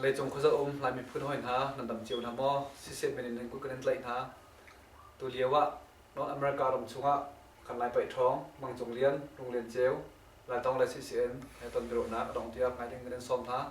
Leicung khuazak um Lai miphun hoi hna nan dam cio hna maw siseh men in nan kut kan in tlaih hna tu lio ah North America ram chungah kan lai paih ṭhawng mangcung lian lung lian ceu Lai tong le CCN he ton biaruahnak a dong tiah ngai ding kan in sawm hna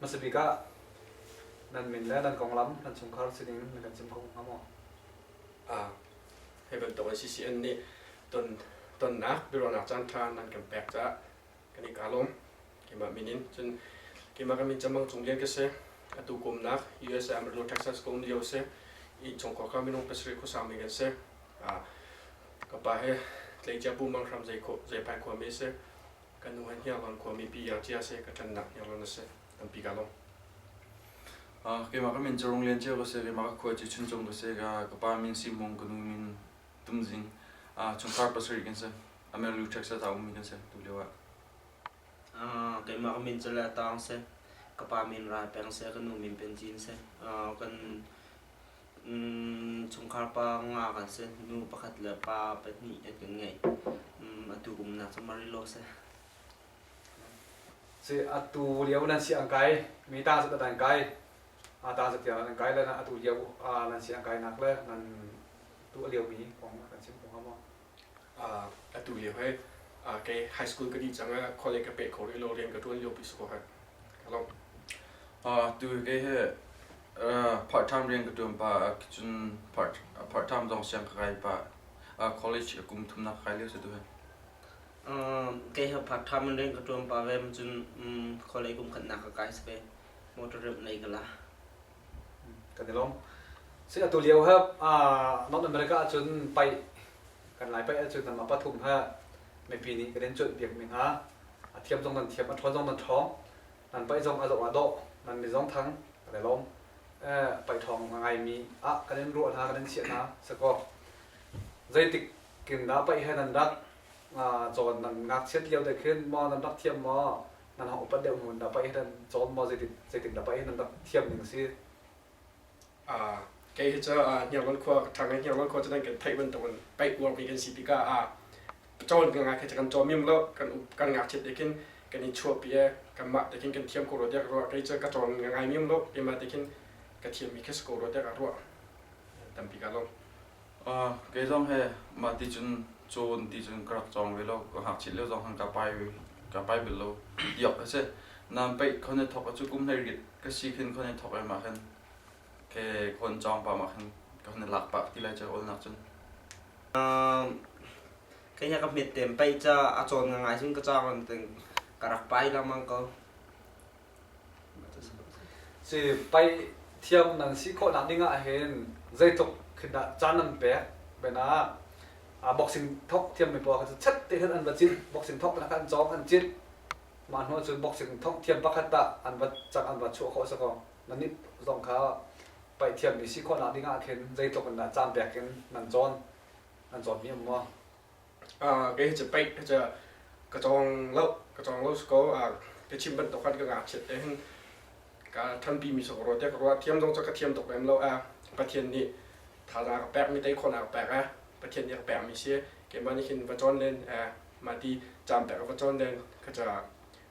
Hmasa bik ah nan min le nan konglam nan chungkhar sining na kan chim kho hnga maw? Ah, hi bantuk a CCN nih ton tonnak biaruahnak caan ṭha nan kan pek caah kan i kaa lawm. Keimah min in cun keimah kan min chamang cung lian ka se atu kumnak USA Amrino Texas kum lio se in chong kwa ka minung pasarih khu sang mi kan se a ka pa he tlei cha pu mang hram zai kho zai pai khwa mi se kan nu han hiang wan khwa mi pi yang chia se ka than nak yang na se tam pi ka long a keimah kan min charong lian cheu ka se keimah ka khwa chi chun chung ka se ka ka pa min si mong ka nu min tum zing a chong kar pasarih kan se Amrino Texas ta um mi kan se tu leo a keimah ka min cu le taang si. Ka pa min Rai Peng si, ka nu min Pin Cin si. kan chungkhar pa nga kan si. Nu pakhat le pa pahnih an kan ngei. atu kum nak cu Marilo si. Si atu lio nan si an kai mi ta zat an kai a ta zat tiang an kai le atu lio nan si an kai nak le nan tu lio mi kong kan chim kong ha maw atu lio he kei high school ka di cang college ka pe kho rih lo rian ka tuan lio pi su ko ha ka long tu kei he part time rian ka tuan pa cun part time dong siang ka kai pa college a kum thum na kai lio se tu he kei ha part time rian ka tuan pa ve cun college kum khat na ka kai sake motor rep nei kala kan i lawm si atu lio ha North America ah cun pai kan lai pai ahcun nama pathum ha mipi nih kan in cuanh piak mi hna a thiam zong nan thiam a ṭhawng zong nan ṭhawng nan pai zong a lawh a dawh nan mi zong thang kan i lawm pai ṭhawng a ngai mi ah kan in ruah hna kan in chiah hna sakaw zeitik kin dah pai he nan rak cawn nan ngakchiat lio te khin maw nan rak thiam maw nan hang upat deuh mun na pa hi nan cawn maw zeitin zeitin na pa hi nan rak thiam ning a si uh, kei hi cu uh, hniarngol khua thang i hniarngol khua cu nan kan theih bantuk in paih uar mi kan si tikah uh, cawn kan ngak khi kan cawn mim lo kan kan ngak chip tekin kan in chuah pi kan mah tekin kan thiam ko ro tek ro kai chu ka cawn ngai mim lo ima tekin ka thiam mi khes ko ro tek a ro tam pi ka lo Kei zong he mah ti cun cawn ti cun ka rak cawng ve lo. Ka ngakchiat lio zong khan ka pai ve, ka pai bel lo. Diak a si. Nan peih khon i thawk cu kum hlei rit ka si khin khon i thawk ai mah khin ke khon cawng pah mah khin ka hun i lak pah ti lai cah awlnak cun. Kei nih ka hmet tem peih ca a cawn ngai cun ka cawng an ting ka rak pai lengmang ko. si pai thiam nan si khawh nak ding ah hin zeitluk khindah caan nan pek bena a boxing thok thiam mi pawl kha cu chet te khan an va cit boxing thok na khan cawk an cit mah hnu cun boxing thok thiam pakhat ta an va chang an va chuah khawh sa ko nan nih zong kha pai thiam mi si khawh nak ding ah khin zeitluk in dah caan pek in nan cawn an cawn mi am maw Ah, kei hi paih hi ka cawng lo, ka cawng lo ko. Ah, ka chim bantuk khan ka ngakchiat te hin ka thanpi mi sa ka ruat te ka ruat thiam dong cha ka thiam tuk em lo a pathian nih thaza ka pek mi tei khon ka pek a pathian nih ka pek mi si keimah nih hin va chon len a ma ti cham pek va chon len ka cha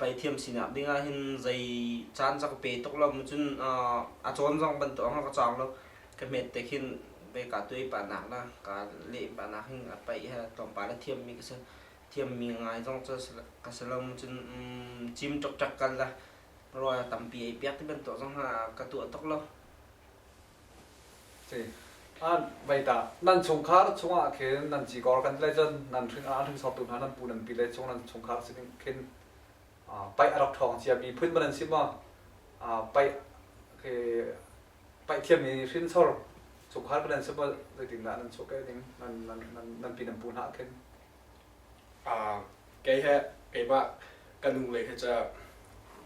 Paithiam sinak ding ah hin zei caan rak ka pe tuk lo maw cun a cawn zong bantuk in rak ka cawng lo. Ka hmet te khin vei kaa tuai pahnak le kaa leh pahnak hin a paih he tlawmpal a thiammi ka si. Thiammi ngai zong cu ka si lo maw cun cim ṭukṭak kan le rawl tampi ei piak ti bantuk zong ka tuah tuk lo. Meitak nan chungkhar chungah khin nan cikor kan le cun nan hrinsawtu hna nan pu nan pi le chung nan chungkhar sin khin paih a rak ṭhawng cia mi phun man an si ma paih paih thiam i hrinsor chungkhar kan an si ma zeitindah nan chuah keh ning nan pi nan pu hna khin kei he keimah ka nu lei he ca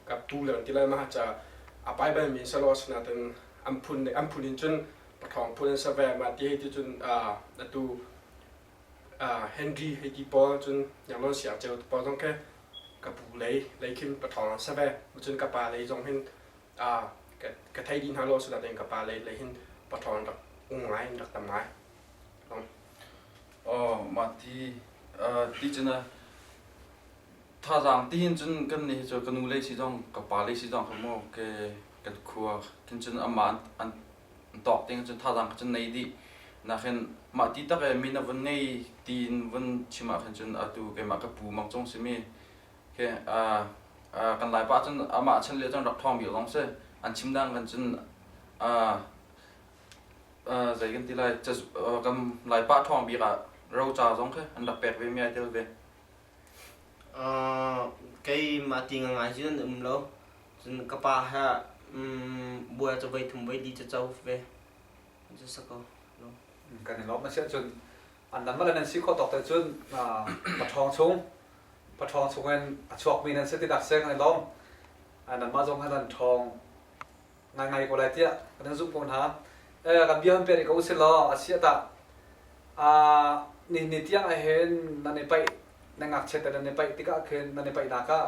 ka pu le kan ti lai mah ca a pai bal mi selaw asina tin an phun an phun in cun pathawng phun an save mah ti hei ti cun atu Henry hei ti pawl cun nyamron siak ceu pawl zong khe ka pu lei lei khin pathawng an save cun ka pa lei zong hin ka thei di hna lo su da den ka pa le le hin patron rak ung ngai rak tam ngai oh ma ti ti chena thazang tin chun kan ni cho kanu le si jong ka pa le si jong ka mo ke kan khua kin chun amma an tok ting chun thazang chun nei di na khen ma ti tak e mi na vun nei tin vun chima khen chun atu ke ma ka pu mak chong simi Okay, uh, uh, kan laipa cun amah chan lio cun rak thawng bik zong si an chim dang kan cun uh, uh, zei kan ti lai uh, kan laipa thawng bik ah ro cha zong khi an rak pek ve mi ai tel ve uh, kei ma ti nga ngai jun um lo cun ka pa ha um, bua cha voi thum voi di cha chau ve ju sako kan in lom ma sia cun an dang le nan si khawh tawk te cun pathawng chung pathawng chung in a chuakmi nan si tidak seng an lawm nan mah zong an thawng ngai ngai ko lai tiah nan zumh ko hna kan bia an peri ko si law a sia ta ni ni tiang ah hin nan i paih na ngak chet nan i paih tikah khin nan i paih nak ah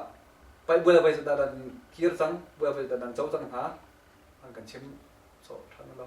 paih buala vai da dan kir cang buala vai da dan cho cang hna an kan chim so than lo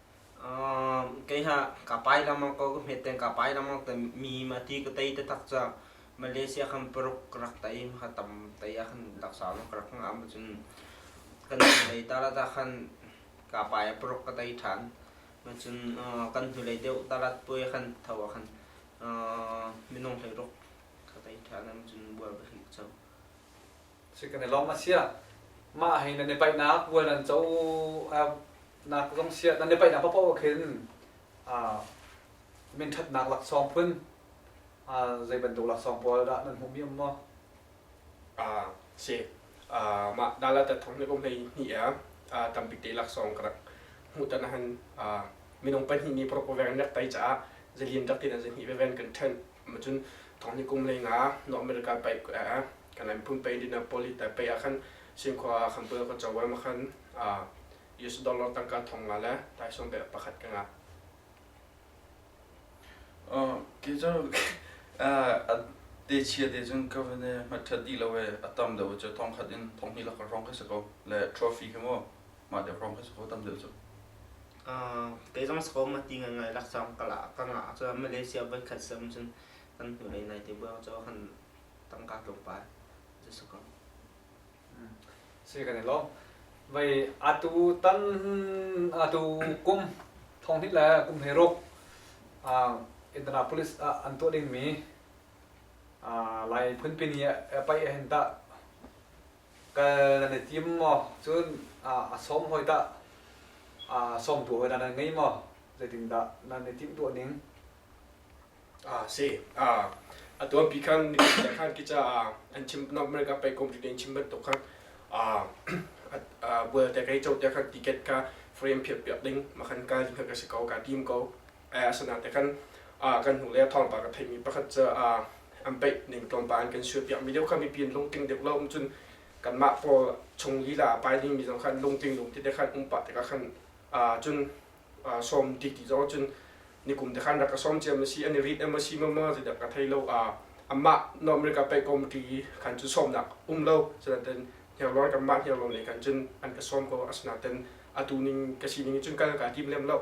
kei ha kapai lamang ko ka hmet ten kapai lamang te mi ma ti ka tei te tak ca Malaysia kan paruk ka rak tei ha tam tei ah kan laksau lo ka rak ngah ma cun kan hnulei tal ah tah khan kapai ah paruk ka tei ṭhan ma cun kan hnulei deuh tal ah puai khan tho ah khan minung hleiruk ka tei ṭhan ma cun bual ka hrik cho. si kan i lawm a siah mah hin nan i paihnak bual nan co nak zong siah nan i paihnak paoh khin min ṭhatnak laksawng phun zei bantuk laksawng pawl dah nan hmuh mi um maw? si mah nala ta thong le um nei ni a tampi te laksawng ka rak hmuh tan han minung pahnih nih prop veng rak tai caah zalian rak tin an zahni veven kan ṭhen macun thongni kum le nga no america pe kan an pun pe dina poli ta pe akhan singkhwa khan pul ko chawa ma khan US dollar tangka thong nga le tai som be pakhat ka nga oh ke jo de chia de jun ka vane ma tha di lo e atam da wo thong khat in thong hi la ka rong ka se ko le trophy ke mo mah te from kha so tam deuh cu kei zong so ma ti ngai ngai lak sam ka la ka nga cho malaysia voi khat sem cun kan hnu ai nai te buang cho han tangka tlung pa je so ko si kan lo vậy atu tan atu kum thong ni la kum he rok a Indianapolis an to ding mi lai phun pin ya pai hen ta kal nan i tim maw cun a sawm hoi dah a sawmtu hoi dah nan ngei maw zeitindah nan i timh tuah ning ah si ah a tuan pi khan nikum khan ki ca an chim north america pei kom in chim bantuk khan bual te kai cho te khan ticket ka frame phiat piak ding makhan kal ding kha ka si ko ka tim ko a sana te kan kan hnu le thawngpa ka theimi pakhat cu an peih ning tlawmpal an kan sual piak mi deuh kha mipi an lungting deuh lo cun kan mah pawl chung lila pai ding mi zong khan lungting lung ti te khan um pa te ka khan cun sawm ti ti zong cun nikum te khan rak ka sawm ciam asi ani rit em asi ma ma ti dak ka thei lo amah normal ka peih committee khan cu sawmnak um lo senaten hniarlawn kan mah hniarlawn le khan cun an ka sawm ko asana ten atu ning ka sining cun kan ka tim lem lo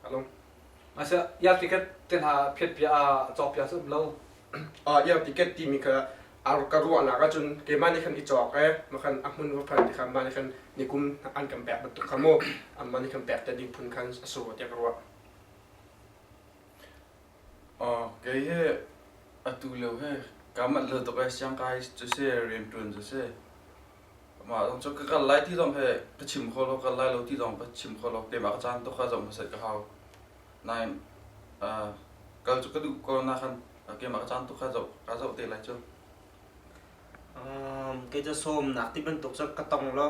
Kalung. Masa ia ticket te hna phet pia a chok pia sum lo. Ah ia ticket timi kha ka ruah nak ahcun keimah nih khan i cawk e makhan ahmun va phan ti khan mah nih khan nikum an kan pek bantuk kha mu amah nih khan pek te ding phun khan a su tiah ka ruah Kei hi atu lio hi kaa manh hlei tuk i siangkai cu si, rianṭuan cu si. Mah zong cu ka kal lai ti zong hi ka chim kho lo, kal lai lo ti zong ka chim kho lo. Keimah ka caan tuk ah zoh hmasat ka hau. Nain kal cu ka duh ko nain keimah ka caan tuk ah zoh ka zoh te lai cu. Kei cu sawmnak ti bantuk cu ka tong lo.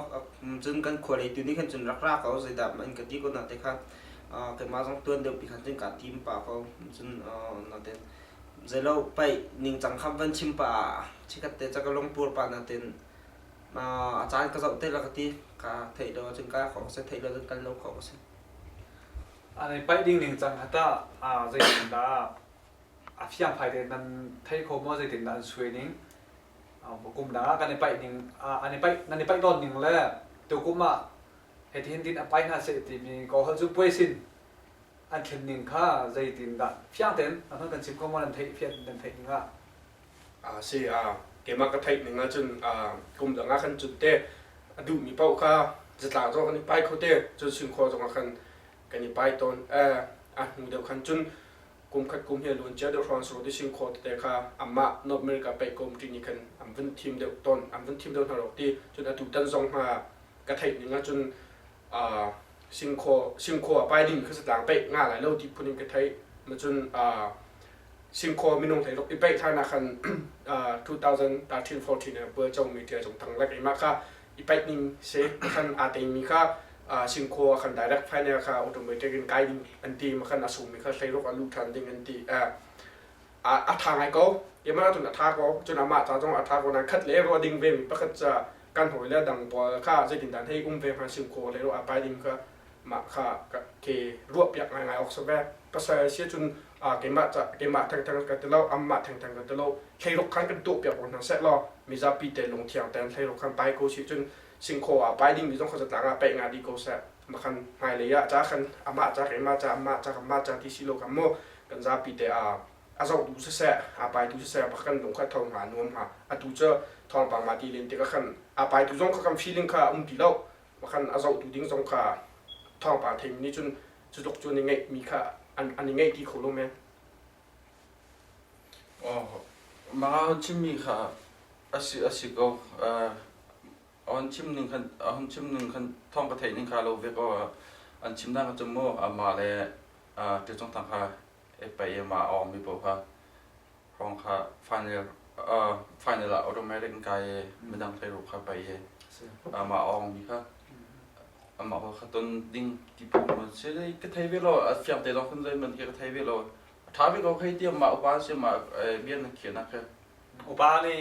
Cun kan khualei tu nih khan cun rak ra ko, zeidah ma in ka ti ko na te kha. Keimah zong tuan deuhpi khan cun kaa tim pah ko. Cun na te zeilo paih ningcang kha van chim pah ah chikkhat te cu ka lungpur pah na ten. A caan ka zoh te la ka ti. Ka theih lo ahcun ka kho a si, theih lo ahcun kal lo khawh a si. Paih ding ningcang kha tah zeitindah? a fiangfai te nan thei kho maw zeitin dah an sui ning kum dang kan i paih ning an i paih nan i paih tawn ning le tukum ah heti hin din a pai hna seh timi ko hal cu puai sin an thlen ning kha zeitin dah fiang ten nan kan chim ko maw nan theih fian nan theih ning ah a si a keimah ka theih ning ahcun kum dang ah kan cun te a duh mi paoh kha zatlang zong kan i pai kho te cun sin khua zong ah kan kan i pai tawn a hnu deuh khan cun kumkhat kum hi a luan cia deuh hrawn sur ti sing khaw tete kha amah North America pei ka um ti nih khan an vun thim deuh ton an vun thim deuh hna rok ti cun atu tan zong hma ka theih ning ahcun sing khaw sing khaw a pai ding kha satlang peih nga lai lo ti phun in ka theih ma cun sing khaw minung thei rok i peih thar na khan 2013 14 bual chongmi tia jong thang lak ima kha i paih ning se khan aa teimi kha Singkhaw a kan direct finance kha automatic in kai ding an ti ma kan asumi kha thleiruk a luh than ding an ti a tha ngai ko yamana tun a tha ko cun ama ta zong a tha ko nan khat le ro ding ve mi pakhat cha kan hoi le dang bol kha zeitin dan hei um ve ma Singkhaw le ro a pai ding kha ma kha ke ruap yak ngai ngai ok so ve pasal si cun keimah keimah thengtheng ka ti lo anmah thengtheng ka ti lo thleiruk khan kan tuah piak ko hna seh law mizapi te lungthiang tein thleiruk khan pai ko si cun singkhaw ah pai dingmi zong kha zatlang ah paih nga dih ko seh makhan hmailei ah ca khan amah ca keimah ca amah ca amah ca ti si lo kan mu kan zapi te a a zoh tu siseh a pai tu siseh pak kan lung kha tho hnga nuam hnga a tu cu thawngpang ma ti len tik khan a pai tu zong kha kan feeling kha um ti lo makhan a zoh tu ding zong kha thawngpang theimi nih cun cu tok cu an i ngaih mi kha an i ngaih ti kho lo men mah on chimmi kha asi asi ko on chim ning khan hon chim ning khan thong ka theih ning kha lo ve ko an chim na ka chum mu ama le te chong thang kha payam ah a awngmi paoh kha hrawng kha final uh, final ah automatic in kai i midang hlei ruk kha pai i amah a awngmi kha amah kha ton ding ti phu mun si dei ka thei ve lo a fiang te lawng khan zoi man ke ka thei ve lo a tha ve ko khei ti amah upa si amah bian na khian na kha upa nih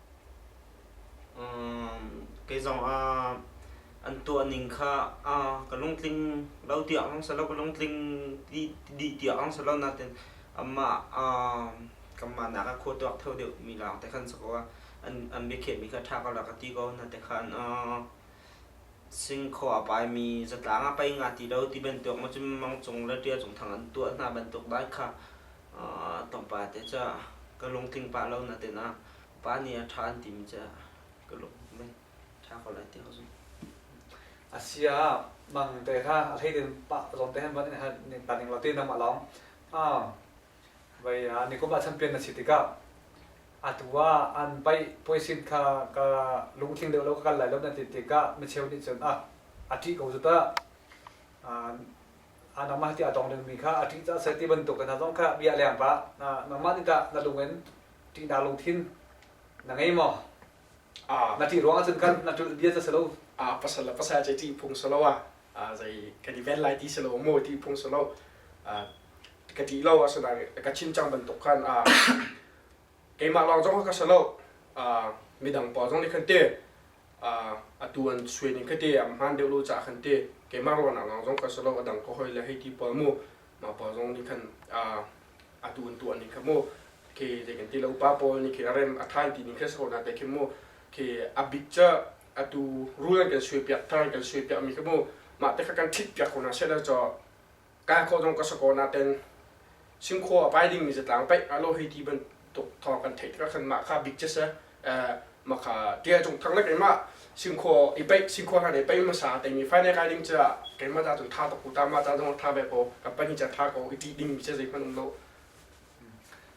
Kei zongah an tuahning kha ka lungtling lo tiah ang si lo, ka lungtling dih tiah ang si lo. Nain amah kanmah nak ah khua tuak theu deuhmi lawng te khan si ko. An biakhiahmi kha ṭha ko la ka ti ko. Na te khan Singkhaw a paimi zatlang ah pei nga ti lo ti bantuk, macun mang cung le ṭial cung thang an tuah hna bantuk dai kha Tongpa te cu ka lungtling pah lo na ten ah pa nih a ṭha an timi cu ka lung mei ṭha ko lai ti ko zung. A si ah mang te kha a hlei din pa zong te han ban ne han ning ta ning lo ti nangmah lawng a vai a ni kum a champion na si tikah a tu ah an pai puaisin kha ka lungtling deuh lo ka kal lai lo na ti tikah micheu nih cun a a ṭih ko zut ah nangmah tiah a tawng dingmi kha a ṭih cah seh ti bantuk hna zong kha bia leng pa nangmah nih tah na lung in ṭihna lungthin na ngei maw na ṭih ruang ahcun khan na ṭulh bia cu si lo a pasal le pasal ce ṭih phung si lo a zei kan i ven lai ti si lo mu ṭih phung si lo ka ṭih lo a sunan ka chin cang bantuk khan a keimah lawng zong ka si lo midang pawl zong nih khan ti atu an suai ning kha ti am hmaan deuh lo caah khan ti keimah ruahnak lawng zong ka si lo a dang ka hawi le hei ti pawl mu mah pawl zong nih khan atu an tuah ning kha mu khi zei kan ti lo upa pawl nih khi a rem a than ti ning kha si ko na te khi mu khi a bik cu atu rul an kan suai piak thar an kan suai piak mi kha mu mah te kha kan ṭhit piak ko hna seh law kai khawh zong ka sakaw naten Singkhua a pai dingmi zatlang paih a lo hei ti bantuk thawng kan theih tikah khan mah kha bik cese maka tia cung thang le keimah singkhua i paih singkhua kan i paih masa teimi fainai kai ding ca keimah ta cun tha tuk ta ma ta zong tha be ko company ca tha ko i ti dingmi ce zei hmanum lo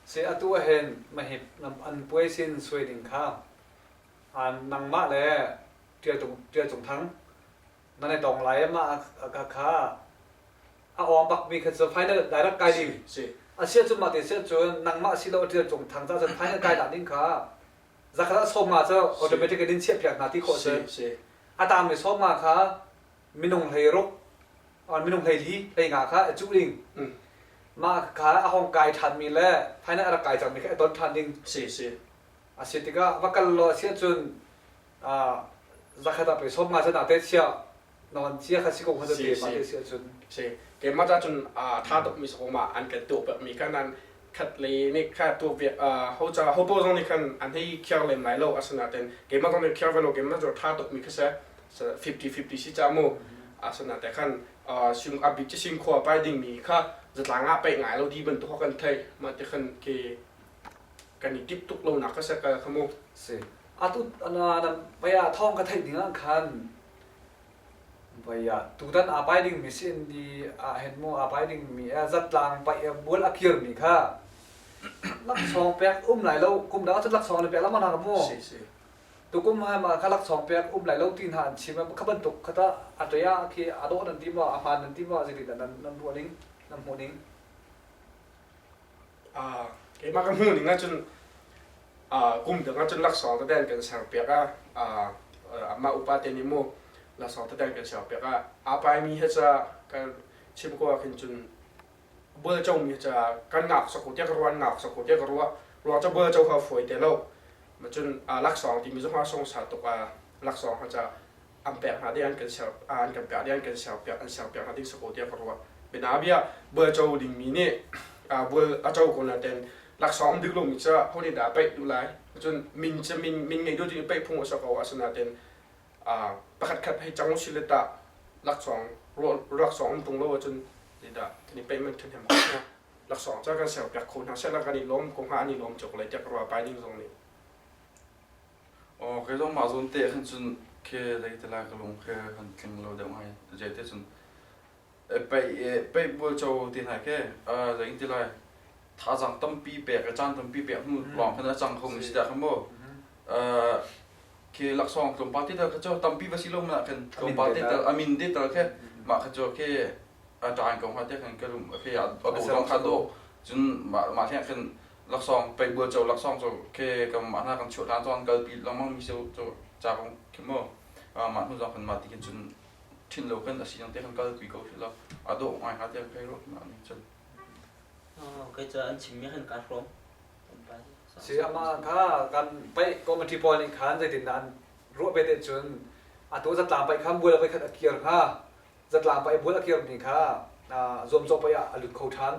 se atu hen mahip an puai sin sui ding kha an nangmah le tia cung tia cung thang nan i tong lai ma kha kha a awng bakmi kha cu final direct kai ding asia cu mah te sia cun nangmah si lo ṭial cung thang ca cun final kai dah ning kha zakhat a sawm ma cu automatic in in chiah piak hna ti khawh si a tangmi sawm ma kha minung hlei ruk minung hlei li hlei nga kha a cuh ding mah kha a hong kai ṭhanmi le final a rak kai cangmi kha a ton ṭhan ding a si tikah va kal law a sia cun zakhat ah pei som nga se da te sia non cia kha si ko khata te ma te sia chun si ke ma ta chun tha tok mi so ma an kan to pa mi kan an khat le ni kha to ve ho cha ho bo zong ni kan an hi khiar lem lai lo asana ten ke ma zong ni khiar velo ke ma zo tha tok mi kha se 50 50 si cha mu asana te khan sing abit chi sing khwa pai ding mi kha zatanga pe ngai lo di ban to kan thai ma te khan ke kan i kip tuk lonak ka se ka kha mu si atu na vaya thawng ka theih ding ah khan vaya tutan a pai ding mi sin di a hen mo a pai ding mi a zat tlang pai bual a kir mi kha lak song pek um lai lo kum da chu lak song le pek la mana mu si si tu kum ha ma kha lak song pek um lai lo tin ha an chim kha ban tuk khata a to ya khi a do nan tim wa a man nan tim wa zili da nan nan ru ning nan mu ning keimah ka hnu ning ahcun kum dang ahcun laksawng tadeng kan ser piak a amah upa te nih mu laksawng tadeng kan ser piak a aa pai mi he ca kan chim ko ah khin cun bual co mi ca kan ngak sako tiah ka ruah ngak sako tiah ka ruah ruang ca bual co ha fawi te lo ma cun laksawng timi zong ha song sa tuk a laksawng ha ca an pek hna ding an kan ser an kan pek ding an kan ser piak an ser piak hna ding sako tiah ka ruah bianabia bual cho ding mi nih bual a cho ko na ten laksawng dik lo mi cu honi da paih du lai cun min cu min min ngei du ding paih phung sa ko asana ten pakhat khat hei chang si le ta laksawng laksawng um tung lo cun ni da thani paih man than hem ko na laksawng cha kan ser piak kho hna se la kan i lom ko ha ani lom chok lai tiak ruwa pai ning zong ni Aw, kei zong mah zawn te khan cun khe lei te lai ka lung khe kan tling lo deuh ngai. Zei te cun e pei e pei bual cho ti nai ke zei ti lai thazang tampi pek e caan tampi pek hnu lawng khan a cang kho mi si da khan maw ke laksawng tlawm pa te tal kha cho tampi va si lo mana khan tlawm pa te tal amin de tal khe mah kha cho ke a taan ko ha te khan ka rum ke a do dong kha do cun mah mah hleng khan laksawng peibual cho laksawng cu ke kan mah hna kan chuah than cun kalpi lengmang mi seu cu ca kong khi mo mah hnu zong kan mah ti khin cun thin lo kan asi te kan kal kui ko khi lo a dawh ngai ha te kai ro ma ni cun kai ca an chim mi han ka hrom si ama kha kan pai committee pawl nih khan zeitin da an ruah bete cun a to zatlang pai khan bual vai khat a kir hnga zatla pei bual a kirmi kha zuamcawh pei ah a lut kho ṭhan.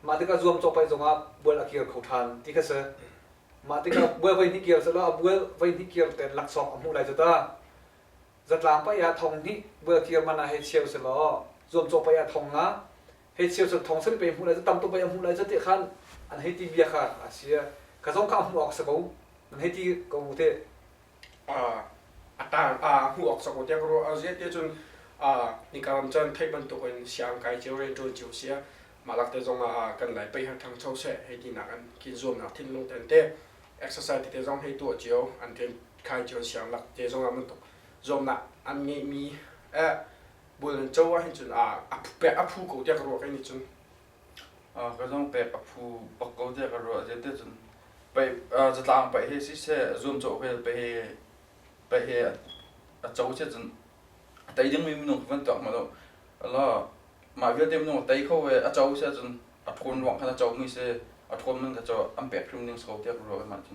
Mah tikah zuamcawh pei zongah bual a kir kho ṭhan ti kha si. Mah tikah bual voihnih kir sehlaw a bual voihnih kir ten laksawng a hmuh lai cu ta. Zatlang pei ah thong hnih bual kir man ah hei cheu sehlaw zuamcawh pei ah thong nga hei cheu sehlaw thong sari pei hmuh lai cu tam tuk pei a hmuh lai cu tiah khan an hei ti bia kha a si. Kha zong kha a hmuh awk a si ko. An hei ti ko te. a tar a hmuh awk cang tiah ka ruah a ziate cun nika ram cun theih bantuk in siang kai cio rian ṭuan cio si a mahlak te zong ah kan lai pei ha thang cho seh hei tinak an kin zuamnak thinlung ten te exercise te zong hei tuah cio an ṭen khai cio siang lak te zong ah bantuk zuamnak an ngeih mi bul an co ah hin cun a phu pek a phu ko tiah ka ruah kai nih cun Ka zong pek a phu bak ko tiah ka ruah. Zeite cun zatlang paih he siseh, zuamcawh vial paih he, paih he a co siah cun a tei dingmi minung khi van tuak ma law elaw mah vialte minung a tei kho i a co siah cun a ṭhawn ruang khan a comi a si, a ṭhawn man kha cu an pek hrim ding si ko tiah ka ruah i mah cu.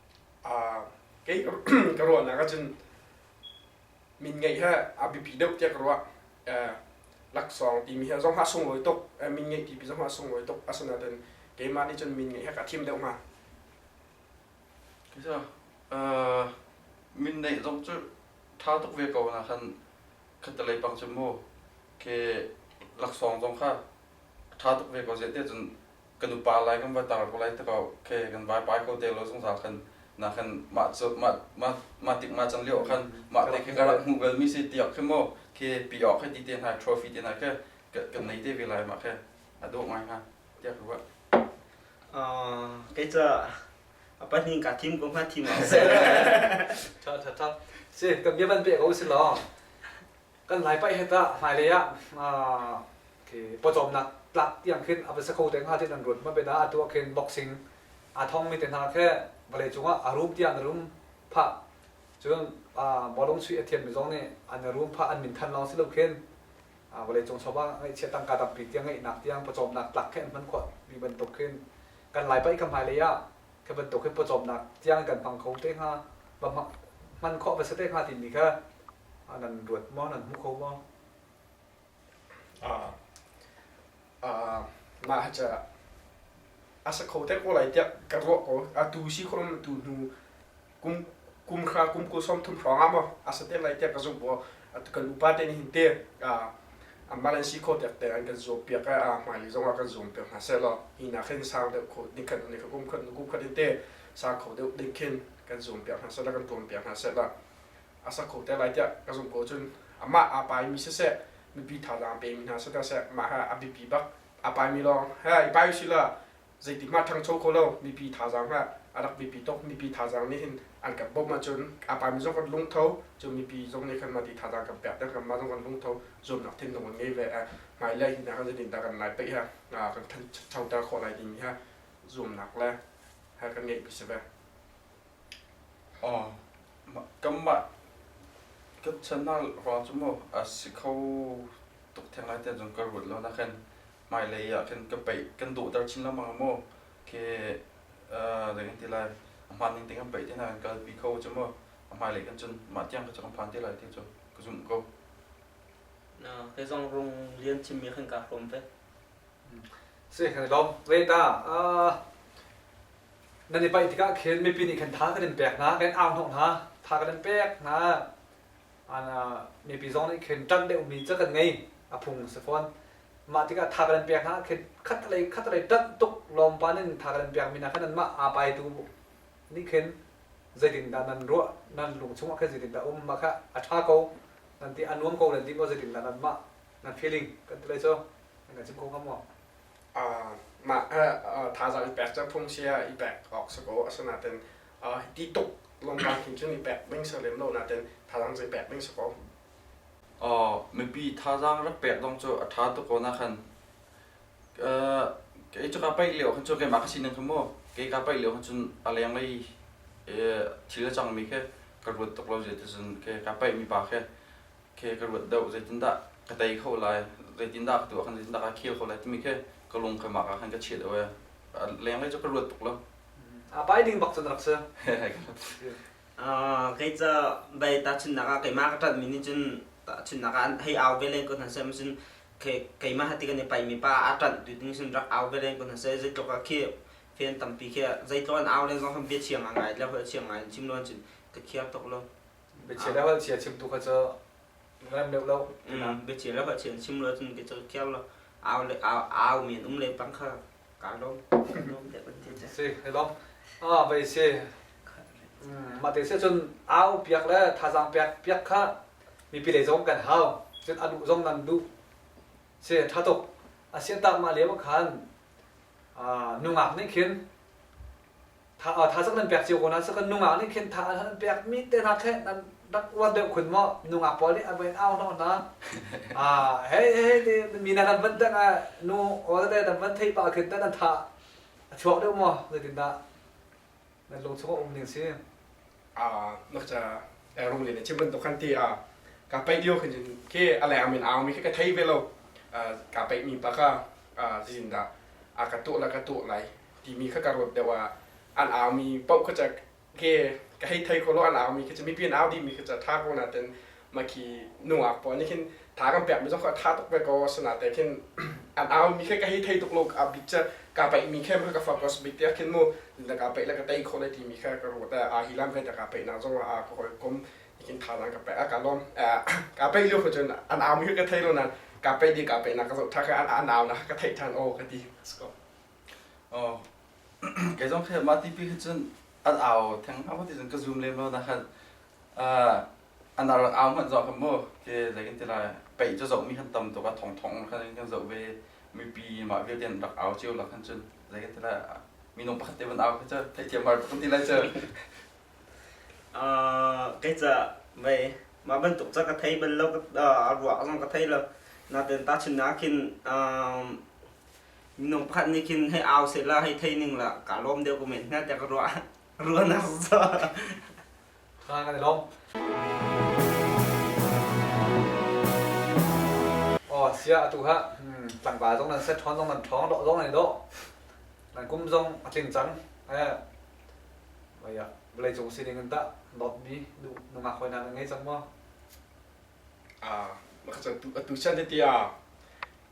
kei ka ruahnak ahcun min ngeih he a biapi deuh tiah ka ruah laksawng timi hi zong hlah sunglawi tuk min ngeih tipi zong hlah sunglawi tuk asinain keimah nih cun min ngeih he ka thim deuh hnga kisa min neih zong cu ṭha tuk ve ko na khan khatalei pang cu mu ke laksawng zong kha ṭha tuk ve ko zeh tiah cun kan upa lai kan va tar ko lai ti ko okay kan vai pai ko te lo zungzal khan na khan mah cu mah mah mah tik mah chan lio khan mah te khi karah hmu gal mi si tiak khi mo khi pi ok khi ti te na trophy te na ke kan nei te ve lai ma ke adu ngai ha tiak ruwa a kai cha apa ni ka team ko ma team a sa tha tha tha si ka bia ban pe ko si lo kan lai paih het ah hmailei ah pawcawmnak tlak tiang khin a va sa kho te hnga ti nan ruat ma bena atu ah khin boxing a thongmi te hna khe vawlei cungah a rum tiang na rum pha cun bawlung sui a thiammi zong nih an rum pha an min than lawng si lo khin vawlei cung chawva ngaihchia tangka tampi tiang ngaihnak tiang pawcawmnak tlak khe hman khawh mi bantuk khin kan lai paih ka hmailei ah khe bantuk hin pawcawmnak tiang kan hmang kho te hnga hman khawh va sa te hnga timi kha a kan ruat maw nan hmu kho maw mah ca a sa kho te ko lai tiah ka ruah ko a tu si khom tu hnu kum kum khra kum kul som thum hrawng ah maw a sa te lai tiah ka zumh bo a tu kan upa te ni hin te a malan si kho tek te an kan zuam piak a hmai zong a kan zuam piak hna se lo hi na khen sang deuh kho ni khan ni kum khan kum khan te sa kho deuh ding khen kan zuam piak hna se la kan tuam piak hna se la a sak kho te lai tiah ka zumh ko cun amah aa paimi siseh mipi thazaang pemi hna siseh seh mah he a biapi bak aa paimi lawng he i pai usih lah zeitik mah ṭhangcho kho lo mipi thazaang he a rak biapi tuk mipi thazaang nih hin an kan bawmh ahcun a paimi zong kan lungtho cu mipi zong nih kan mah ti thazaang kan pek te kan mah zong kan lungtho zuamnak thinlung an ngei ve eh hmai le hi hna kan zin dah kan lai pei he kan thanchoter khawh lai timi he zuamnak le he kan ngeih bisi ve Kanmah ka channel ruang cu maw a si kho tuk theng lai tiah cun ka ruat lo nakin hmailei ah khin ka peih kan dawhter chin lengmang ah maw khi zei kan ti lai a hmaan ning tiang kan peih ti nain kan kalpi kho cu maw a hmailei khin cun mah tiang kha cu kan phan te lai ti cu ka zumh ko. Na kei zong rung lian chinmi khin kaa hrawm ve. Si kan i lawm. Ve ta. nan i paih tikah khin mipi nih khan tha kan in pek hna, kan in au hnawh hna, tha kan in pek hna. An, uh, mipi zong nih khin ṭanh deuh mi cu kan ngei, a phung si fawn. Mah tikah tha kan in pek hna khin khatlei khatlei ṭanh tuk lawmpan in tha kan in pek mi hna khan anmah aa pai tu nih khin zeitindah nan ruah, nan lung chungah khan zeitindah um, mah kha a ṭha ko, nan ti a nuam ko le lim aw zeitindah nan mah nan feeling kan ti lai cu, nan kan chim ko ngam maw? mah thazaang i pek cu phungchia i pek awk si ko. Asinain ti tuk longkang khin cun i pek ding si lem lo nain thazaang cu i pek ding si ko. Mipi thazaang rak pek zong cu a ṭha tuk ko nakhon. Kei cu kaa paih lio khan cu keimah ka sining kha mu, kei kaa paih lio khan cun a lenglei thil a cangmi khi ka ruat tuk lo zia ti cun kaa paihmi pa khi khi ka ruat deuh zeitindah ka tei kho lai zeitindah ka tuah khan zeitindah ka khel kho lai timi khi ka lung ka mah ah khan ka chiat away a leng lei cu ka ruat tuk lo a pai ding bak cu rak si kei ca bai ta chun nak ah kei ma ka tat mi nih cun chun nak ah hei au ve len ko hna sem cun kei ma hati kan i pai mi pa a tat tu ding cun rak au ve len ko hna se zei tluk a khi fen tampi khi zei tluk an au len zong khan bia chiang a ngai le hoi chiang ngai chim lo cun ka khiar tuk lo biachia le hal chia chim tu kha cu ngan deuh lo biachia le hal chia chim lo cun ke cho kiar lo au le au au men um le pang kha ka lom ka lom te ban te cha si hello ah bai si mà tế sẽ chun ao piak le tha giang piak piak kha mi pi lei zong kan hao chun anu zong nan du se tha tok asian tak ma lewa khan à nungak ning khin thazaang nan pek cio ko na kan nungak nih khin tha an pek mi te hna khe nan rak uan deuh khun maw nungak pawl nih a vain au hno hna ah hei hei mi na kan van tang ah nu ol le nan van thei pa khin nan tha a chuak deuh maw zeitin dah nan lung chung a um ning si a nakcha ru le chim ban to khan ti a ka pai dio khin ke ale amin au mi ke ka thei ve lo ka pai mi pa ka zin da a ka to la ka to lai timi kha ka ruat deuh ah an aumi paoh kha ca ke ka hei thei kholo an aumi khi cu mipi an au dihmi khi ca tha ko na ten ma khi nungak pawl nih khin tha kan pek mi zong kha tha tuk ve ko asina te khin an aumi khe ka hei thei tuk lo a bit ca ka paih mi khe ma ka focus bit te khin mu na ka paih le ka tei kho le ti mi kha ka ruat a hi lam ve ta ka paih na zong a ka hoi kom ikin tha nan ka paih a ka lom ka paih liu cun an aumi kha ka thei lo na ka paih di ka paih na ka zo tha kha an au na ka thei than o ka ti sko Kei zong khi mah tipi khi cun an au theng a pati cun ka zoom lem lo na khan an rak au hmanh zoh kan mu ke zeikin ti lai pei cu zoh mi kan tam tuk a thong thong khan kan zoh ve mipi mah vialte an rak au cio la khan cun zeikin ti lai minung pakhat te van au khi cu theithiam har kan ti lai cu kei ca mei mah bantuk ca ka thei bal lo a ruah zong ka thei lo naten ta chin na khin minung pakhat nih khin hei au sehla hei thei ning la ka lawm deuh ku men hna te ka ruah ruanak so ha kan lawm oh sia atu ha tlangval zong nan set thon zong nan thong do zong nan do nan kum zong a tling cang eh vaya vlei cung sining in ta dot mi du nungak hoi na ngai cang mo ah maka tu atu chan ti ah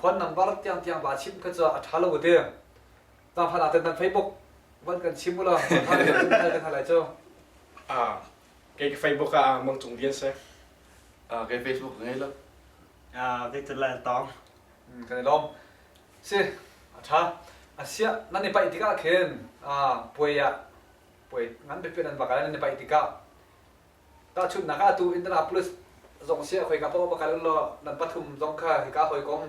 phone number tiang tiang ba chim kha cu a tha lo te ta phan aten nan facebook van kan chim ula kan hal lai cu a kai ka facebook a mang cung vian se a kai facebook ngai lo a victor lan tong kan lom si a tha asia nan ni pai tika khen a puaya puai ngan pe pe nan bakal nan ni pai tika Tahchunhnak ah, atu Indianapolis zong si khoi ka paw bakal lo nan pathum zong kha hika hoi kom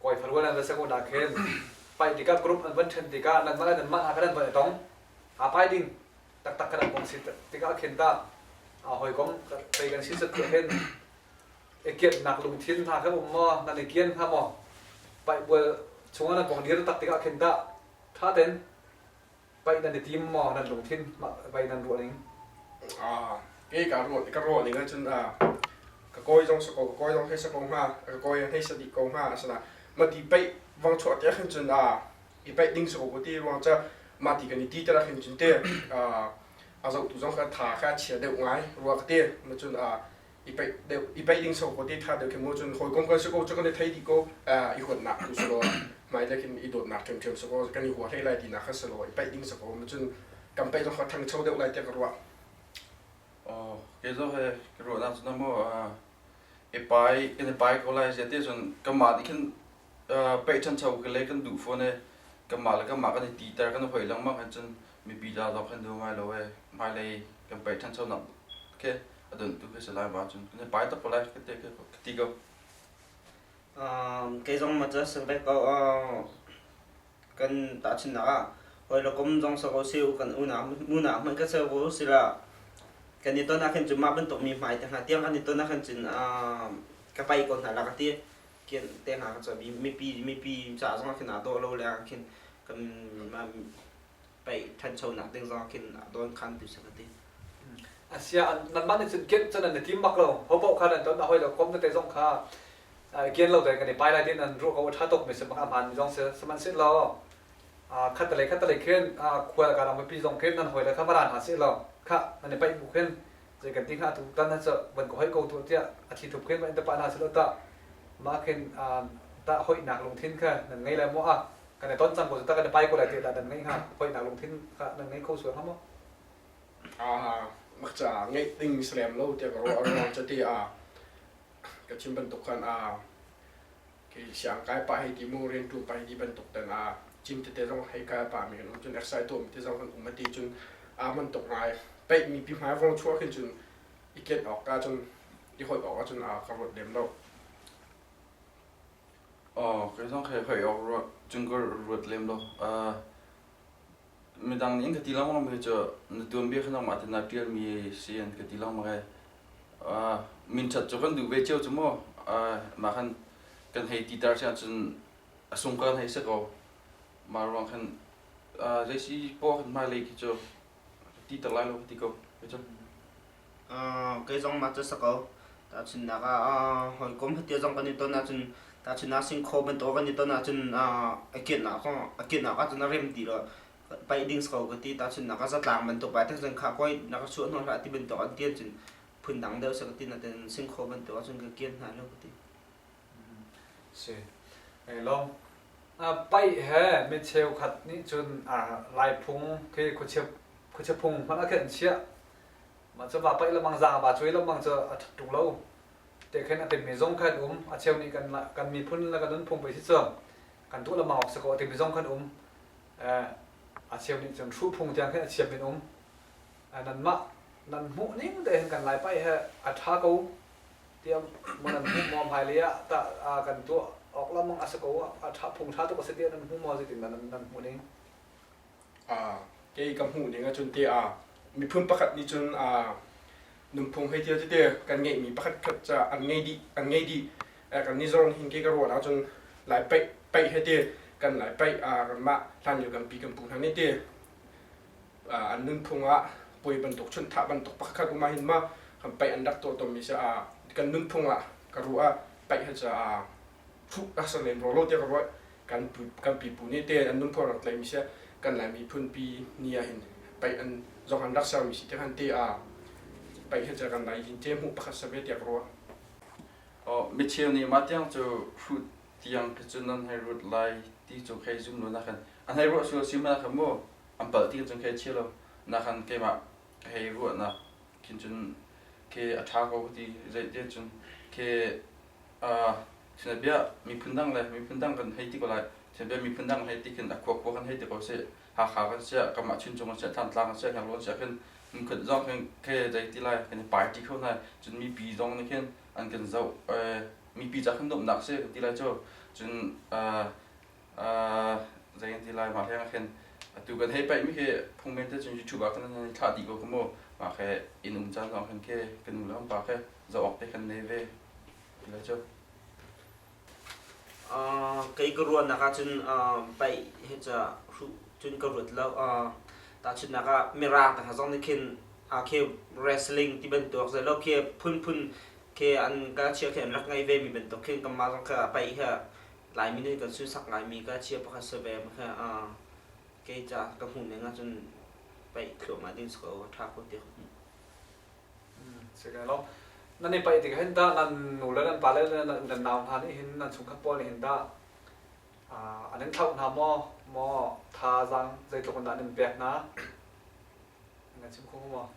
koi pharuan an va sego da khen pai tikap group an van chen tikah nan mala nan mah ha khan van tong ha pai ding taktak khan bong si tikah khen ta a hoi kom thei kan sin sat tia hen e kiat nak lung thin ha kha um mo nan e kian ha mo pai bual chunga nan bong dir tak tikah khen ta tha ten Pei nan i tim maw nan lungthin pei nan ruah ning? Ah, ke ka ruah ka ruah ning ahcun ah ka koi zong sa ko ka koi zong hei sa ko hnga ka koi hei sa dih ko hnga asana ma ti pei vang chuah te khin cun ah i pei ding sa ko ko ti ruang ca ma ti kan i ti tera khin cun te a zoh tu zong ka tha ka chia deuh ngai rua ka te ma cun ah i paih deuh i paih ding so ko te tha deuh kim ho cun hoi kom kan se ko chu kan thei di ko i huat nak tu selo mai le kim i dot nak kem kem so ko kan i hua hlei lai ti na khan selo i paih ding so ko ma cun kan paih zong kha thang chau deuh lai tiang ka ruah o ke zo he ke ruah na cun mo e pai ke ne pai ko lai je te cun kan ma di khin paih chan chau ke le kan du phone kan ma le kan ma kan i ti tar kan hoi lang ma kan cun mi bi da do khan du mai lo e mai lei kan paih chan chau nak ke a don tu khi lai ma cun ne pai tak lai ka te ka ti ko um ke zong ma cha sel ko kan ta chin na hoi lo kom zong sa ko se u kan u na mu na mai ka se wo sila kan ni to na khen chuma ban to mi mai te ha tiang an ni to na khen chin ka pai ko na la ka ti kian te ha ka cha bi mi pi mi pi cha zong khen a do lo le khen kan pei ṭhanchonak ding zong khin a dawnkhantu sa ka ti. Asia nanmah nih cun kianh cun an i tim bak lo hopoh khan an ton hawi lo kom tete zong kha kian lo tein kan i pai lai tiin an ruah ko ṭha tuk mi si bak aman mi zong si sihmanhsehlaw khatalei khatalei khin khual ka ram pi zong khin nan hawi le kha maran ha si lo kha nan i paih bu khin zei kan ti hnga tu tan ha van ko hoi ko tu tiah a thi thup khin van in ta pa hna si lo ta mah khin ta hoinak lungthin kha nan ngei le maw a kan i ton cang ko cu ta kan i pai ko lai tiah nan ngeih hnga hoihnak lungthin kha nan ngei kho sual hnga maw mak ca ngeih ding mi salem lo tiah ka ruah ruang cu te a ka chim bantuk khan a ke siang kai pa hei ti mu rian tum pa hei ti bantuk tan a cim tete zong hei kai pa mi kan um cun exercise to mi te zong kan um ati cun a man tuk ngai peih mi pi hmai vong chuah khin cun i ket ok ka cun i hot ok cun a ka rot dem lo Kei zong khe hoih awk ruat, cungka ruat lem lo. Midang nih an ka ti lengmang mi cu na tuanbia kha nangmah tein naa ṭialmi si an ka ti lengmang ai. Minṭhat cu kan duh ve cio cu maw. Mah khan kan hei ti tar si ahcun a sung ka hei si ko. Mah ruang khan zei si poah kan hmailei khi cu ti ter lai lo ka ti ko ka cang kei zong mah cu sa ko tahchunnak ah hawikom hiti zong kan i ton ahcun tahchunnak singkhaw bantuk kan i ton ahcun a kennak a kennak ahcun a rem ti lo paih ding ko ka ti tahchunnak ah zatlang bantuk bai tak cun kha koi na ka chuah hnawh hlah ti bantuk an ti ahcun phun dang deuh sa ka ti natein singkhaw bantuk ahcun ka ken hna lo ka ti si. Nei lo. Pai he mi cheukhat nih cun laiphung khi khuachiaphung hman a khenh chiah. Ma cu va pai lamang za va cui lamang cu a ṭhatu lo. Te khen a timmi zong khan um. A cheu nih kan miphun le kan nunphung pe si cu kan tuah lamang awk si ko timi zong khan um. A cheu nih cun hruhphung tiang khin a chiam in um. Nan mah nan hmuh ning te hin kan lai pai he a ṭha ko. tiang man an hmuh maw hmailei ah tah kan tuah awk lengmang a si ko a ṭha phung ṭha tuk a si tiah nan hmuh maw zeitin nan nan hmuh ning uh, kei ka hmuh ning ahcun te uh, miphun pakhat nih cun uh, nunphung hei tia tete kan ngeihmi pakhat khat ca an ngei dih an ngei dih kan ni zong hin ke ka ruah ahcun lai paih paih hei te kan lai paih uh, kan mah hlan yu kan pi kan pu hna ni te an nunphung ah puai bantuk chunthah bantuk pakhat um ahhin ma kan paih an rak tuah tawnmi si ah kan nunphung ah ka ruah ah paih han caah thuk a ser len rolo tiah ka ruah kan kan pipu nih te an nunphung rak tlaimi si kan laimi phunpi ni ahhin paih an zong an rak sermi si tiah han te ah paih han ca kan lai jin te hmuh pakhat save tiah ka ruah micheu nih mah tiang cu fruit tiang khi cu nan hei ruat lai ti cu khei zum lo nakan an hei ruah su si ma nakan mu an palh ti cun khei chia lo nakan keimah ka hei ruah nak kin cun ke a ṭha ko ti zei te cun ke sina bia miphun dang le miphun dang kan hei ti ko lai sina bia miphun dang hei ti khin a kuak kuak kan hei ti ko si hakha kan sia kamah chin chung kan sia thantlang kan sia ngaklo kan sia khin mukhat zong khin ke zei ti lai kan i pai ti kho nai cun mipi zong nih khin an kan zoh mipi ca kan domhnak si ka ti lai cu cun zei an ti lai mah hleng khin atu kan hei paih mi khi phungmen te cun youtube ah kan han thlah dih ko ka mu mah khe in um caan zong khan khi kan nu le kan pa khe zoh awk te kan nei ve ti lai cu kei ka ruan nak ah cun paih he ca cun ka ruat lo ta chun nak ah mirang ta zong nih khin a khi wrestling ti bantuk zai lo khi phun phun ke an ka chia khi an rak ngei ve mi bantuk khin kanmah zong kha pei hi Laimi nih kan sunsak ngaimi ka chia pakhat si ve ma khi uh, kei ca ka hmuh ning ahcun pei thluahmah ding si ko ṭha ko ti ka hmuh. si kai lo nan i pai tik hin da nan nu le nan pa le nan nan nau hna nih hin nan chungkhat pawl nih hin da ah an in thlauh hna maw maw thazaang zeitluk in dah an in pek hna nga chim kho maw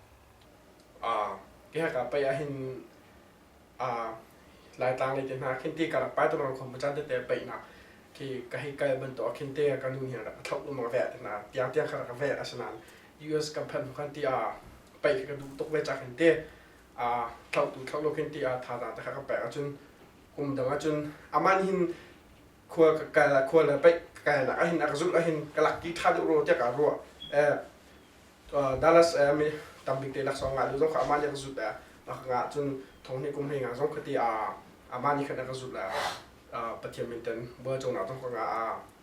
ah ya ka pa ya hin ah lai tlang le ke hna khin ti ka rak pai tu lang khom pa chan te te pai na ki ka hei kal ban to khin te ka nu ni rak thau lu ma ve te na tiang tiang ka rak ve asnan US company khan ti a pai ka du tok ve cha khin te a thau tu thau lo khin ti a tha da ta ka pa ka chun kum dang a chun aman hin khua ka kai la khua le paih ka kai nak ahin akzul ahin kalak ki tha deuh ro tiak a ro eh Dallas mi tambik te laksong nga zong kha amani akzut eh nga cun thongni kum hei nga zong khati a amani khan akzut la pathian minten bua chong na tong nga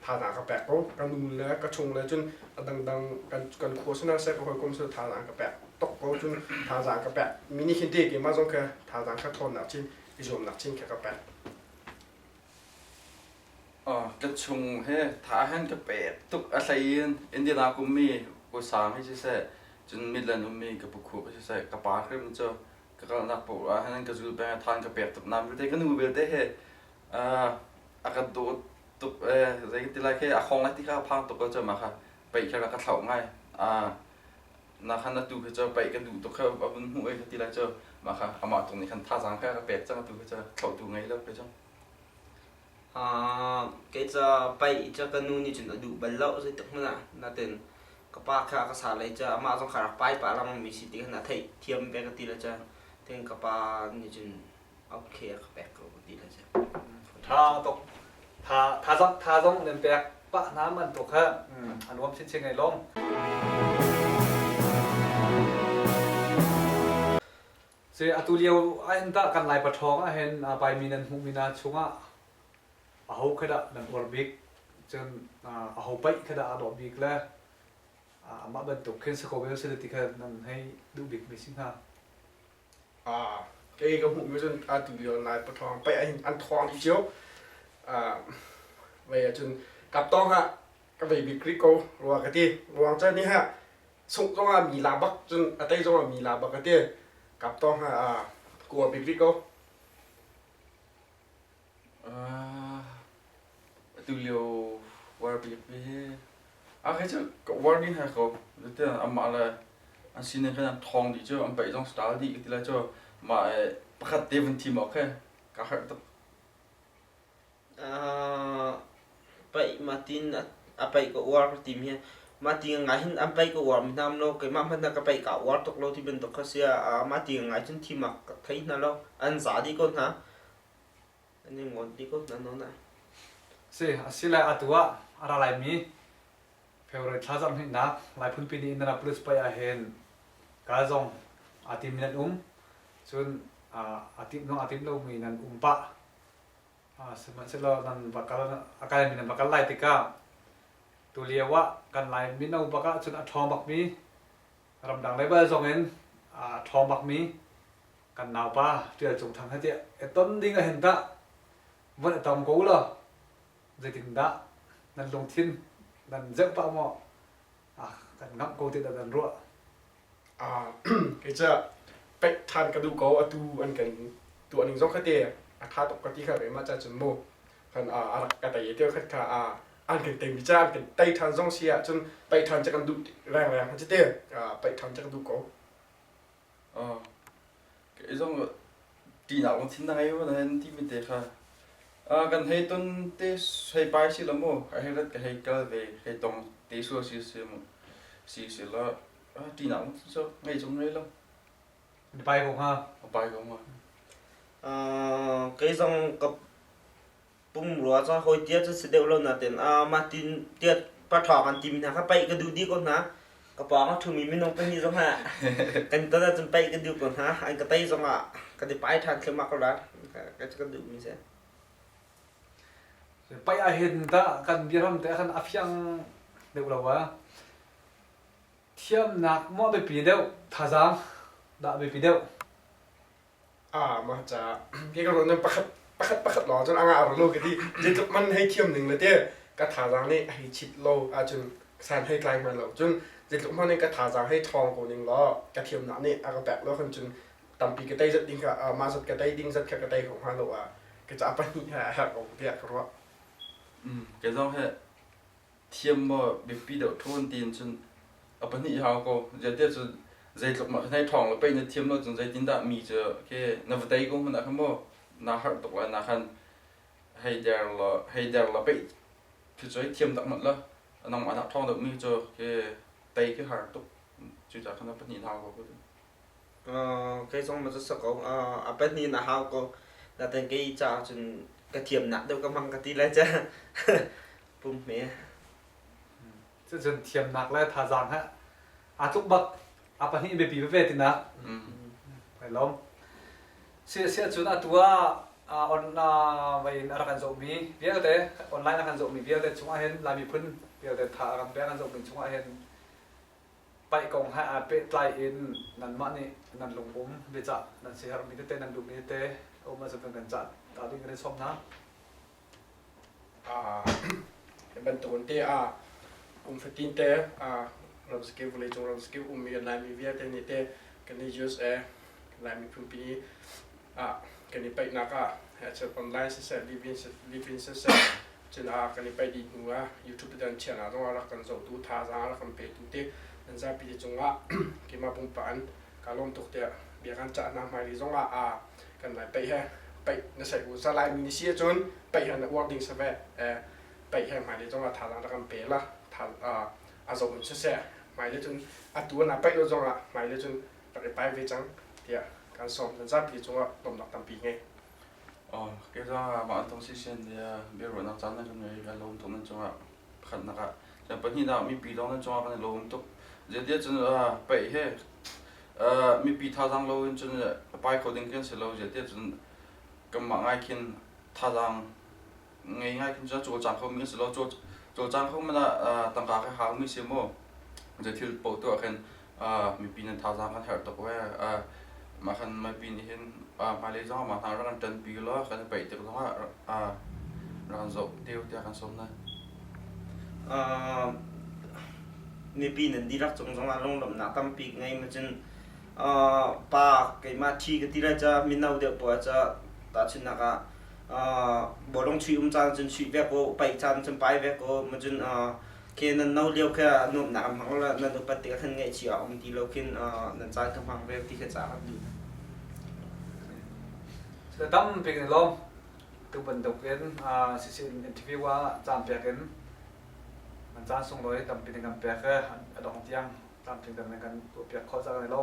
tha na ka pek ko kan nu le ka chung le cun adang dang kan kan kho sana se ko kom su tha na ka pek tok ko cun tha za ka pek mini hin te ke ma zong kha tha za ka thon na chin izom na chin ka ka pek Ka chung hi tha hin ka pek tuk a hlei in Indian ah ka ummi Pu Sang hi siseh cun Midland ummi ka pu Khup hi siseh ka pa hrim cu ka kalnak paoh ah hin ka zul peng i than ka pek tuk nain vialte ka nu vialte hi a ka dawt tuk zeiti lai khi a hawng a ti kha a phang tuk ahcun mah kha peih khi a rak ka thlauh ngai. nahan atu khi cu paih ka duh tuk kha a vun hmuh i ti la cu mah kha amah tung nih khan thazang kha ka pek cang atu khi cu thlauhtu ngei lo khi cu ha kei ca paih ca ka nu nih cun a duh bal lo zei tuk hmanh ah natin ka pa kha ka sa lai ca amah zong kha rak pai pa lengmang mi si ti khan a theih thiam pe ka ti la ca tin ka pa nih cun okay a ka pek ko ti na si tha tuk tha tha zong tha zong nan pek pa hna man tu kha an nuam chin chin ai lom se atu lio ai ta kan lai pathong ah hen a pai mi nan hmu mi na chunga a ho khada nan orbit cun a ho pai khada a do bik le ama ban tuk khin se ko vel se ti kha nan hei du bik mi si na kei ka hmuhmi cun atu lio Lai pathawng pei an thawng dih cio vei ahcun kap tawng ah ka vei bik rih ko rua ka ti ruang cu ni ha sungh zong ah mi la bak cun a tei zong ah mi la bak ka ti kap tawng ah kua bik rih ko Atulio war biapi hi ahei cu war nih hai ko tiah amah le an sinin khan an thawng dih cu an paih zong style dih ka ti lai cu mah i pakhat te vun thim awk khi ka harh tuk. Paih matin a paih ka uar ka tim hi mati ngai hin an paih ka uar hmanam lo keimah hmanh na ka paih kaa uar tuk lo ti bantuk kha si a mati ngai cun thim a ka thei hna lo an za dih ko hna. Si, asilai atu ah a ra laimi February thla zarh hnihnak Laiphunpi ni Indira Police pei ah hin kaa zong a tim in an um. Cun a timh nuang a timh lomi nan um pah. Sihmanhsehlaw nan vakal a kalmi nan vakal lai tikah tulio ah kan lai mino bak ah cun a ṭhawng bakmi ramdang level zong in a ṭhawng bakmi kan naupa Tial Cung Thang he tiah e ton ding ahhin dah van i tong ko law zeitindah nan lungthin nan zeuh pah maw kan ngamh ko ti dah nan ruah kei pek ṭhan ka duh ko atu an kan tuah ning zong kha te a ṭha tuk ka ti kha ve mah cah cun mu kan a rak ka tei te khat kha an kan tei mi ca an kan tei ṭhan zong si ahcun tei ṭhan che kan duh rengreng ha cu te pei ṭhan che ka duh ko kei zong ṭihnak lung thin na ngei maw na hei timi te kha. Kan hei ton te hei pai si lo maw ka hei rat ka hei kal ve hei tong te sual si si mu si si la ṭihnak lung thin cu ngei chung ngei lo. Na pai ko hnga? A pai ko hnga. Kei zong ka Pungrua cu hoitia cu si deuh lo natin a matin tiat pathawk an tim hna kha paih ka duh dih ko hna. Ka pawng a thumi minung pahnih zong ah kan ton ahcun paih ka duh ko hna. An ka tei zong ah kan i pai ṭhan thluahmah ko lai. Ka ka duhmi si. Paih ah hin dah kan biaram te ah khan a fiang deuh lo a. Thiamnak maw a biapi deuh, thazaang dah a biapi deuh? Ah, ma ca. Ke ka ruan nan pakhat pakhat pakhat lawng cun anga run lo ka ti. Je tluk man hei thiam ning le te ka thazang nih hei chit lo ahcun san hei tlai hman lo. Cun je tluk man in ka thazang hei ṭhawng ko ning law ka thiamnak nih a ka pek lo khan cun tampi ka tei zat ding kha ah, ma zat ka tei ding zat kha ka tei ko hnga lo ah ka ca pahnih he a herh ko tiah ka ruah. Mm, ke zong hi thiam maw biapi deuh ṭhawn tiin cun a pahnih hau ko ziatia cu zeitluk mah nai ṭhawng le pei na thiam lo cun zeitindah mi cu ke na va tei ko hmanh ah khan maw na harh tuk la na khan hei der la hei der la pei khi cu hei thiam tak mat la nang mah nak ṭhawng deuh mi cu ke tei khi har tuk cu ca khan a pahnih hau ko kei zong ma cu sakau a pahnih na hau ko na ten kei ca cun ka thiam nak deuh ka hmang ka ti lai ca pumhme cucun thiamnak le thazaang he aa tluk bak a pahnih biapi veve tinak kai lawm si si cun atu ah on vai in a rak kan zohmi vialte online a kan zohmi vialte chungah hin lai miphun vialte tha a kan pe a kan zohmi chungah hin paih kong he aa pehtlai in nanmah nih nan lungpum biacah nan siher mi tete nan duhmi tete um a kan cah ta ding kan i sawm hna Hi bantukin te ah kum fatin te ramsakil vawleicung ramsakil um i Laimi vialte nih te kan i USA Lai miphunpi kan i paihnak ah achiat online siseh livin siseh cun kan i paih dih hnu ah YouTube dan chiahnak zongah rak kan zohtu thazaang a rak kan petu te an zapi te cungah keimah pumpak in kaa lawm tuk tiah bia kan cah hna hmailei zongah kan lai pei he pei na sei u zalai mi si cun pei he na uar ding save pei he mai le zong a thalang da kan pe la thal a zo mun sese mai le cun a tu na pei lo zong ah mai le cun rak i pai ve cang tia kan som dan za pi chung ah dom nak tampi nge oh ke zong ma tong si sen dia be ro na chan na kan ngai ka lom to na chung ah pakhat na ka jan pahnih na mi pi dong na chung ah kan lom tuk je dia cun pei he mipi thazang lo in cun pai kho ding kan si lo zia tiah cun kanmah ngai khin thazang ngei ngai khin cun caw cang kho mi kan si lo caw cang kho man ah tangka ka hang mi si mu je thil po tu ah khin mipi nan thazang kan herh tuk we ma khan mipi nih hin ma lei zong ma hna ran kan tan pi lo kan i paih tik zong ah ran zoh deu tiah kan som na mipi nan dirak cung zongah lunglawmhnak tampi ka ngei macun pa keimah thi ka ti lai ca mino deuh poah ca tahchunnak ah bolong chuih um caan cun chuih vek u paih caan cun pai vek u macun ke nan no lio khe nuamhnak an hmang lo nan upat tikah khan ngaihchih a um ti lo khin nan caan ka hmang vel ti kha ca kan duh. Tampi kan lawm. tu bantuk in sishin interview ah caan pek in man caan sung loi tampi ne kan pek a dong tiang caan pin kan kan tuah piak kho cang lo